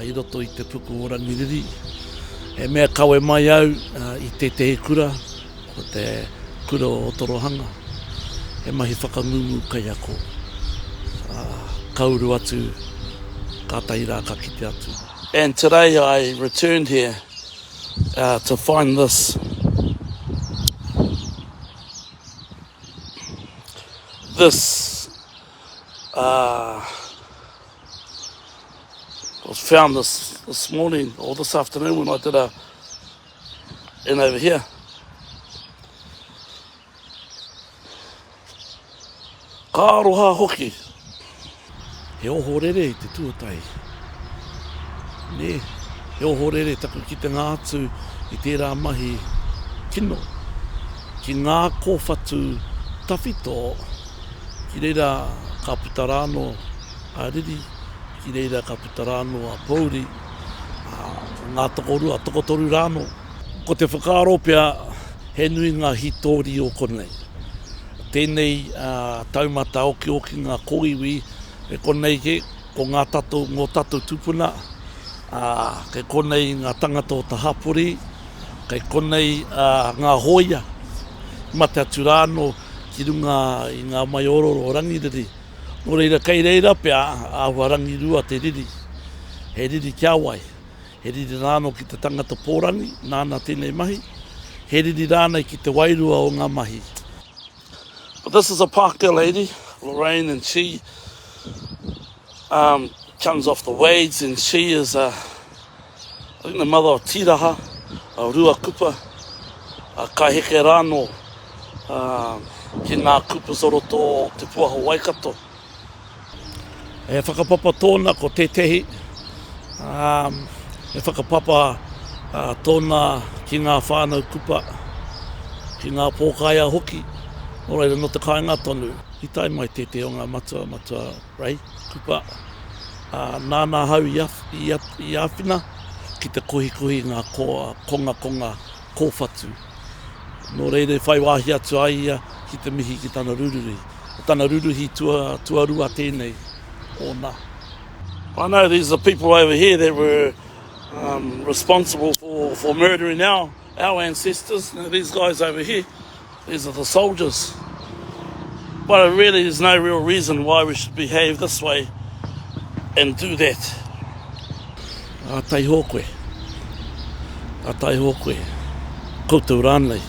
I roto i te puku o Rangiriri, he mea kawe mai au i tētehi kura, ko te kura o Otorohanga, he mahi whakangungu kaiako. Ka uru atu, kātahi rā ka kite atu. And today I returned here to find this this I was found this, this morning, or this afternoon when I did a in over here. Ka aroha hoki. He ohorere i te tuatai. Ne, he ohorere taku ki te ngā atu i tērā mahi kino. Ki ngā kōwhatu tawhito Ki reira ka puta rā anō a riri, ki reira ka puta rā anō a pōuri, ā, ngā tokorua, tokotoru rā anō. Ko te whakaaro pea he nui ngā hītori o konei. Tēnei taumata okiokinga kōiwi e konei kē, ko ngā tatou, ngō tatou tūpuna, ā, kei konei ngā tangata o te hapori, kei konei ngā hōia, mate atu rā anō ki runga i ngā maiororo o Rangiriri. Nō reira, kei reira pea āhua rangirua te riri. He riri kia wai, he riri rānō ki te tangata pōrangi nāna tēnei mahi, he riri rānei ki te wairua o ngā mahi. This is a Pākehā lady, Lorraine, and she. Um, comes off the waves and she is a, I think the mother of Tiraha, a Ruakupa, a kai heke rāno uh, ki ngā kupu soroto o te puaho waikato. E whakapapa tōna ko tētehi, um, e whakapapa uh, tōna ki ngā whānau kupa, ki ngā pōkaia hoki, nō reira no te kāinga tonu. I tae mai tētehi o ngā matua, matua Rahi, kupa, ā, nāna ahau i āwhina ki te kohikohi i ngā kongakonga kōwhatu. Nō reira i whai wāhi atu a ia ki te mihi ki tana ruruhi. Ko tana ruruhi tuarua tēnei, ōna. I know these are people over here that were responsible for murdering our ancestors, these guys over here. These are the soldiers. But it really is no real reason why we should behave this way and do that. A taiho koe. A taiho koe. Koutou rānei.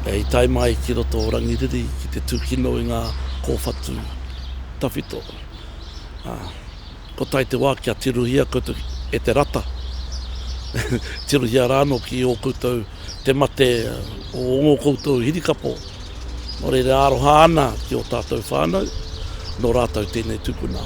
E i tae mai ki roto o Rangiriri ki te tūkino i ngā kōwhatu tawhito. Ā, kua tae te wā kia tirohia koutou e te rata. Tirohia rānō ki ō koutou te mate o ō koutou hirikapo, nō reira e aroha ana ki ō tātou whānau, nō rātou tēnei tūpuna.